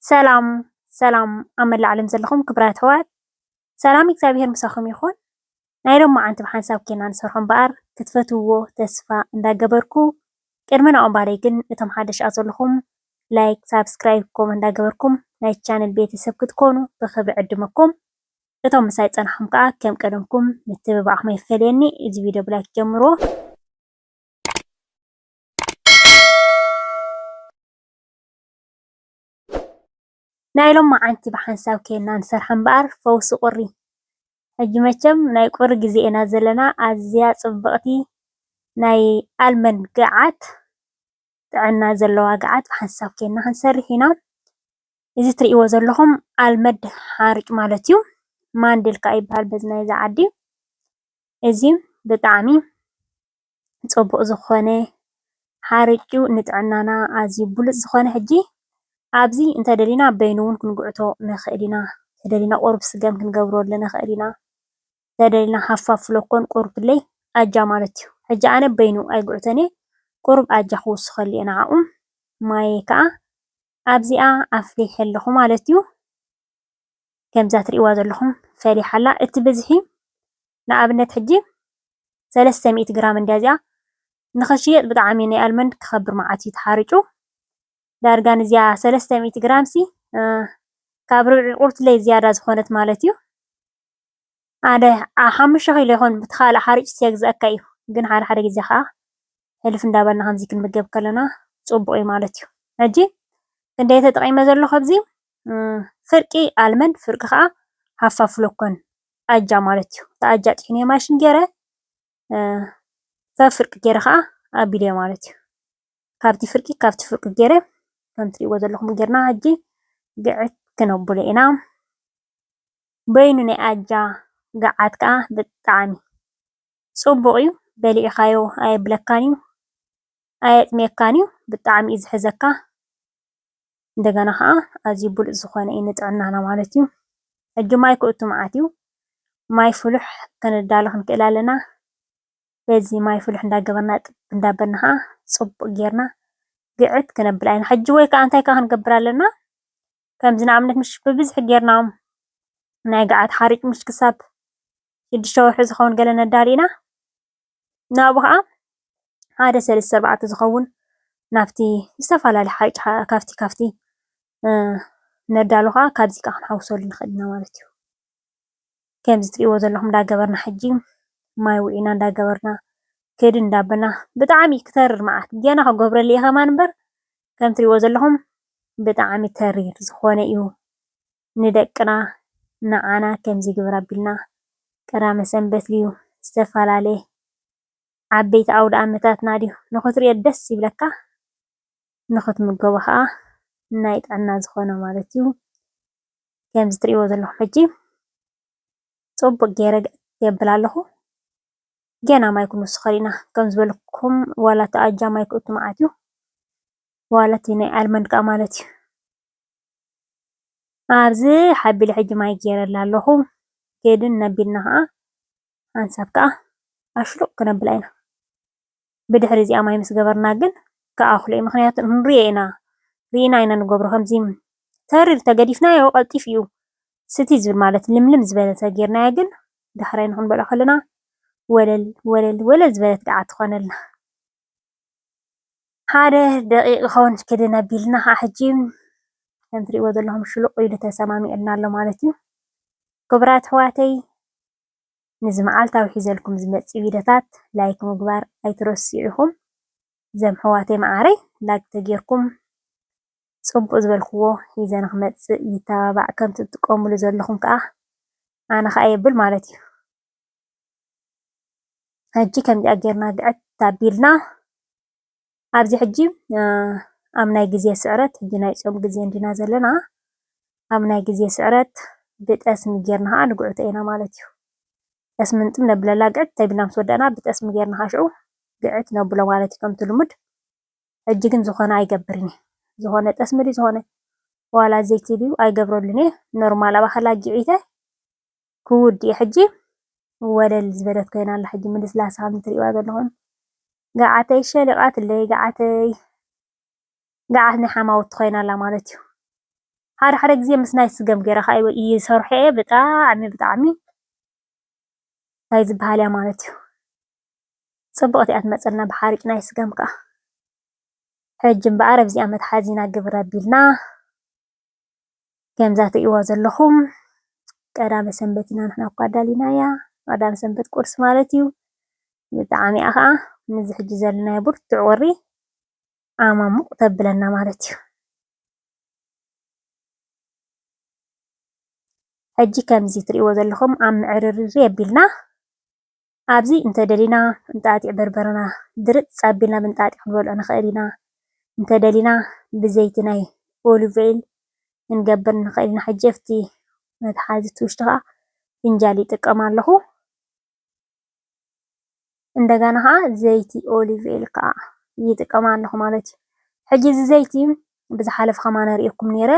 ሰላም ሰላም ኣብ መላእ ዓለም ዘለኹም ክብራት ኣሕዋት ሰላም እግዚኣብሄር ምሳኹም ይኹን። ናይ ሎማዓንቲ ብሓንሳብ ኴና ንሰርሖ እምበኣር ክትፈትውዎ ተስፋ እንዳገበርኩ ቅድሚ ናኡ ምባለይ ግን እቶም ሓደሽኣ ዘለኹም ላይክ ሳብስክራይብ ከምኡ እንዳገበርኩም ናይ ቻነል ቤተሰብ ክትኮኑ ብኽብሪ ዕድመኩም። እቶም ምሳይ ዝጸናሕኩም ከኣ ከም ቀደምኩም ምትብባዕኩም ኣይፈለየኒ። እዚ ቪድዮ ብላይክ ጀምርዎ። ናይ ሎምዓንቲ ብሓንሳብ ኬንና ንሰርሓ እምበር ፈውሲ ቁሪ ሕጂ መቸም ናይ ቁሪ ግዜ ኢና ዘለና ኣዝያ ጽብቅቲ ናይ ኣልመን ግዓት ጥዕና ዘለዋ ግዓት ብሓንሳብ ኬንና ክንሰርሕ ኢና እዚ ትርእይዎ ዘለኹም ኣልመድ ሓሩጭ ማለት እዩ ማንድል ከኣ ይብሃል በዚ ናይዚ ዓዲ እዚ ብጣዕሚ። ፅቡቅ ዝኮነ ሓርጩ ንጥዕናና ኣዝዩ ብሉፅ ዝኮነ ሕጂ ኣብዚ እንተደሊና በይኑ ውን ክንጉዕቶ ንክእል ኢና እንተደሊና ቁሩብ ስገም ክንገብረሉ ንክእል ኢና እንተደሊና ሃፋፍ ሎኮን ቁሩብ ለይ ኣጃ ማለት እዩ ሕጂ ኣነ በይኑ ኣይጉዕቶን እየ ቁሩብ ኣጃ ክውስከሉ እየ ንዓኡ ማየይ ከኣ ኣብዚኣ ኣፍሊሐ ኣለኩ ማለት እዩ ከምዛ ትሪእዋ ዘለኩም ፈሊሓ ኣላ እቲ ብዝሒ ንኣብነት ሕጂ ሰለስተ ሚእቲ ግራም እንድያ እዚኣ ንኽትሽየጥ ብጣዕሚ ናይ ኣልመንድ ክኸብር መዓት እዩ ተሓሪጩ ዳርጋ ንዚኣ ሰለስተ ሚእቲ ግራም ሲ ካብ ርብዒ ቁርትለይ ዝያዳ ዝኾነት ማለት እዩ ሓደ ሓሙሽተ ኪሎ ይኾን ብቲ ካልእ ሓሪጭ ሲየግዝኣካ እዩ ግን ሓደ ሓደ ግዜ ከዓ ሕልፍ እንዳበልና ከምዚ ክንምገብ ከለና ፅቡቅ እዩ ማለት እዩ ሕጂ ክንደይ ተጠቂመ ዘሎ ካብዚ ፍርቂ ኣልመንድ ፍርቂ ከዓ ሃፋፍ ሎኮን ኣጃ ማለት እዩ። እቲ ኣጃ ጥሒነዮ ማሽን ገይረ ሰብ ፍርቂ ገይረ ከዓ ኣቢለዮ ማለት እዩ። ካብቲ ፍርቂ ካብቲ ፍርቂ ገይረ ከምቲ ትሪእዎ ዘለኹም ገይርና ሕጂ ግዕት ክነብሎ ኢና። በይኑ ናይ ኣጃ ግዓት ከዓ ብጣዕሚ ፅቡቕ እዩ። በሊዕኻዮ ኣየብለካን እዩ፣ ኣየጥምየካን እዩ፣ ብጣዕሚ እዩ ዝሕዘካ። እንደገና ኸዓ ኣዝዩ ብሉፅ ዝኾነ እዩ ንጥዕናና ማለት እዩ። ሕጂ ማይ ክእቱ መዓት እዩ። ማይ ፍሉሕ ከነዳሉ ክንክእል ኣለና። በዚ ማይ ፍሉሕ እንዳገበርና እጥብ እንዳበልና ኸዓ ፅቡቕ ገይርና ግዕት ክነብል ኣለና። ሕጂ ወይ ኸዓ እንታይ ክንገብር ኣለና? ከምዚ ንኣብነት ምሽ ብብዝሒ ገይርና ናይ ገዓት ሓሩጭ ምሽ ክሳብ ሽዱሽተ ወርሒ ዝኸውን ገለ ነዳሉ ኢና። ንኣኡ ኸኣ ሓደ ሰለስተ ኣርባዕተ ዝኸውን ናብቲ ዝተፈላለየ ሓይጭ ካብቲ ካብቲ ነዳሉ ኸኣ ካብዚ ከኣ ክንሓውሰሉ ንኸእል ኢና ማለት እዩ፡፡ ከምዚ ትርእይዎ ዘለኹም እንዳገበርና ሕጂ ማይ ውዒና እንዳገበርና ከይዲ እንዳበልና ብጣዕሚ ክተርር መዓት ገና ክገብረሉ እየ ከማን እምበር ከም ትርእይዎ ዘለኹም ብጣዕሚ ተሪር ዝኾነ እዩ፡፡ ንደቅና ንዓና ከምዚ ግበር ኣቢልና ቀዳመ ሰንበት ድዩ ዝተፋላለየ ዓበይቲ ኣውድኣመታትና ድዩ ንክትሪኦ ደስ ይብለካ ንክትምገቦ ከኣ ናይ ጥዕና ዝኮነ ማለት እዩ ከምዚ ትሪእዎ ዘለኩም ሕጂ ጽቡቅ ጌረ የብል ኣለኩ ገና ማይ ክንውስከሉ ኢና ከም ዝበልኩም ዋላ እቲ ኣጃ ማይ ክእቱ መዓት እዩ ዋላ እቲ ናይ ኣልመንድ ከኣ ማለት እዩ። ኣብዚ ሓቢለ ሕጂ ማይ ጌረላ ኣለኹ ኬድን ነቢልና ከኣ ሓንሳብ ከኣ ኣሽሩቅ ክነብላ ኢና ብድሕሪ እዚኣ ማይ ምስ ገበርና ግን ክኣኽሎ እዩ ምኽንያቱ ክንሪኦ ኢና ሪኢና ኢና ንገብሮ ከምዚ ተሪር ተገዲፍናዮ ቀልጢፉ እዩ ስቲ ዝብል ማለት ልምልም ዝበለ ተጌርናዮ ግን ዳሕራይ ንኽንበልዖ ከለና ወለል ወለል ወለል ዝበለት ገዓት ትኾነልና። ሓደ ደቒቕ ክኸውን ክድን ኣቢልና ከኣ ሕጂ ከም ትርእይዎ ዘለኹም ሽሉቕ ኢሉ ተሰማሚዑልና ኣሎ ማለት እዩ። ክቡራት ኣሕዋተይ ነዚ መዓልታዊ ሒዘልኩም ዝመጽ ቪድዮታት ላይክ ምግባር ኣይትረስዑ ኢኹም። እዘም ኣሕዋተይ መዓረይ ላይክ ተጌርኩም ጽቡቕ ዝበልክዎ ሒዘ ንኽመጽእ ይተባባዕ ከምቲ ትጥቀምሉ ዘለኹም ከኣ ኣነ ከኣ የብል ማለት እዩ። ሕጂ ከምዚኣ ጌርና ግዕት ኣቢልና ኣብዚ ሕጂ ኣብ ናይ ግዜ ስዕረት ሕጂ ናይ ጾም ግዜ እንዲና ዘለና ኣብ ናይ ግዜ ስዕረት ብጠስሚ ጌርና ኸኣ ንግዕቶ ኢና ማለት እዩ። ጠስሚ ንጥም ነብለላ ግዕት ተቢልና ምስ ወዳእና ብጠስሚ ጌርና ኸኣ ሽዑ ግዕት ነብሎ ማለት እዩ ከምቲ ልሙድ ሕጂ ግን ዝኾነ ኣይገብርን እየ ዝኾነ ጠስሚ ድዩ ዝኾነ ዋላ ዘይቲ ድዩ ኣይገብረሉን እየ ኖርማል ኣብ ኣኸላ ጊዒተ ክውድ እዩ ሕጂ ወለል ዝበለት ኮይና ኣላ ሕጂ ምልስላሳ ከምዚ ትርእይዋ ዘለኹም ጋዓተይ ሸሊቓትለይ ጋዓተይ ጋዓት ናይ ሓማውቲ ኮይና ኣላ ማለት እዩ ሓደ ሓደ ግዜ ምስ ናይ ስገም ጌረ ከኣ ይሰርሖ እየ ብጣዕሚ ብጣዕሚ ታይ ዝባሃል እያ ማለት እዩ ጽብቕቲ እያ ትመጸና ብሓርጭ ናይ ስገም ከኣ ሕጂ እምበኣር ኣብዚኣ መትሓዚና ግብር ኣቢልና ከምዛ ትርእይዋ ዘለኹም ቀዳመ ሰንበት ኢና ንሕና እኳ ኣዳሊናያ ቀዳመ ሰንበት ቁርሲ ማለት እዩ። ብጣዕሚ እያ ኸኣ ምስዚ ሕጂ ዘለናዮ ብርቱዕ ቁሪ ዓማሙቕ ተብለና ማለት እዩ። ሕጂ ከምዚ ትርእይዎ ዘለኹም ኣብ ምዕርርር የቢልና። ኣብዚ እንተደሊና እንጣጢዕ በርበረና ድርፅ ኣቢልና ብእንጣጢዕ ክንበልዖ ንኽእል ኢና። እንተደሊና ብዘይቲ ናይ ኦሊቭኦይል ክንገብር ንኽእል ኢና። ሕጂ ኣብቲ መትሓዚ እቲ ውሽጢ ከኣ ፍንጃል ይጥቀም ኣለኹ። እንደገና ከኣ ዘይቲ ኦሊቭኦይል ከኣ ይጥቀም ኣለኹ ማለት እዩ። ሕጂ እዚ ዘይቲ ብዝሓለፈ ከማን ኣርእየኩም ኔረ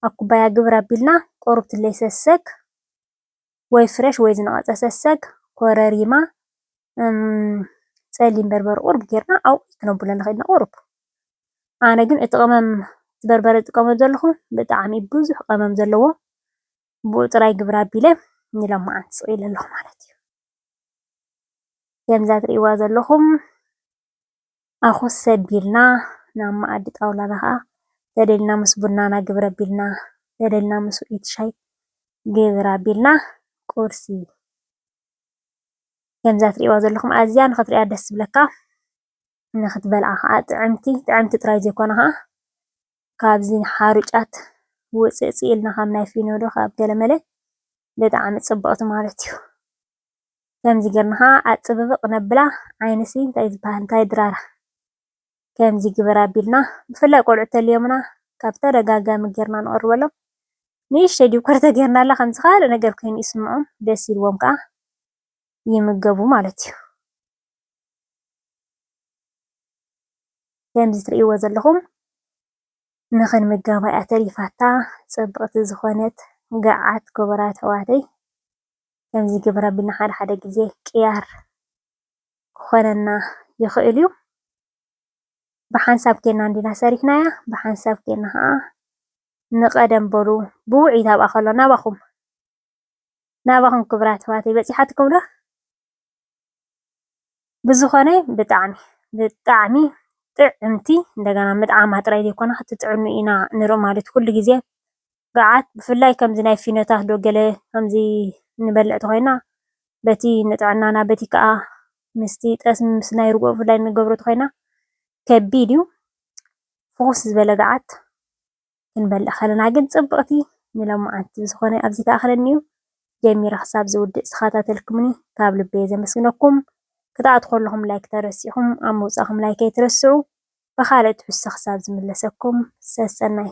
ኣብ ኩባያ ግብር ኣቢልና ቁሩብ ትለይ ሰሰግ ወይ ፍረሽ ወይ ዝነቐጸ ሰሰግ፣ ኮረሪማ፣ ጸሊም በርበረ ቁሩብ ጌርና ኣብኡ ክነብሎ ንኽእል ኢና ቁሩብ። ኣነ ግን እቲ ቅመም እቲ በርበረ ዝጥቀመሉ ዘለኹ ብጣዕሚ ብዙሕ ቅመም ዘለዎ ብኡ ጥራይ ግብር ኣቢለ ንሎማዓንቲ ስቒለ ኣለኹ ማለት እዩ። ከምዛ ትሪእዋ ዘለኹም። ኣኹስ ኣቢልና ናብ መኣዲ ጣውላና ኸኣ ተደሊና ምስ ቡናና ግብር ኣቢልና ተደሊና ምስ ውዕኢት ሻይ ግብር ኣቢልና ቁርሲ ከምዛ ትርእይዋ ዘለኹም ኣዝያ ንኽትርእያ ደስ ዝብለካ ንኽትበልዓ ኸኣ ጥዕምቲ ጥዕምቲ ጥራይ ዘይኮነ ኸኣ ካብዚ ሓሩጫት ውጽእጽእ ኢልና ካብ ናይ ፊኖ ዶ ካብ ገለመለ ብጣዕሚ ጽብቕቲ ማለት እዩ። ከምዚ ገርና ከኣ ኣጽብብቅ ነብላ ዓይንሲ እንታይ ዝበሃል እንታይ ድራር ከምዚ ግበር ኣቢልና ብፍላይ ቆልዑ ተልዮምና ካብ ተደጋጋሚ ገርና ንቅርበሎም ንእሽተይ ዲኮር ተገርናላ ከምዚ ካልእ ነገር ኮይኑ ይስምዖም ደስ ኢልዎም ከኣ ይምገቡ ማለት እዩ ከምዚ ትርእይዎ ዘለኹም ንኽንምገባ እያ ተሪፋታ ጽብቕቲ ዝኾነት ገዓት ክቡራት ኣሕዋተይ ከምዚ ይግበር ኣቢልና ሓደ ሓደ ግዜ ቅያር ክኾነና ይኽእል እዩ። ብሓንሳብ ኴንና እንዲና ሰሪሕናያ ብሓንሳብ ኴንና ኸኣ ንቐደም በሉ ብውዕኢት ኣብኣ ከሎ ናባኹም ናባኹም ክብራት ኣሕዋተይ በጺሓትኩም ዶ? ብዝኮነ ብጣዕሚ ብጣዕሚ ጥዕምቲ እንደገና ምጥዓማ ጥራይ ዘይኮነ ክትጥዕሙ ኢና ንርኢ ማለት ኩሉ ግዜ ጋዓት ብፍላይ ከምዚ ናይ ፊኖታት ዶ ገለ ከምዚ ንበልዕ ተኮይና በቲ ንጥዕናና በቲ ክኣ ምስቲ ጠስሚ ምስ ናይ ርግኦ ብፍላይ ንገብሮ ተኮይና ከቢድ ዩ ፍኩስ ዝበለ ጋዓት። ክንበልዕ ከለና ግን ጽብቅቲ ንሎማዓንቲ ብዝኮነ ኣብዚ ተኣክለኒዩ ጀሚረ ክሳብ ዝውድእ ዝተከታተልኩምኒ ካብ ልበየ ዘመስግነኩም ክትኣትዉ ከለኩም ላይክ ተረሲዕኩም ኣብ ምውጻኩም ላይክ ኣይትረስዑ ብካልእ ትሕዝቶ ክሳብ ዝምለሰኩም ሰሰናዩ።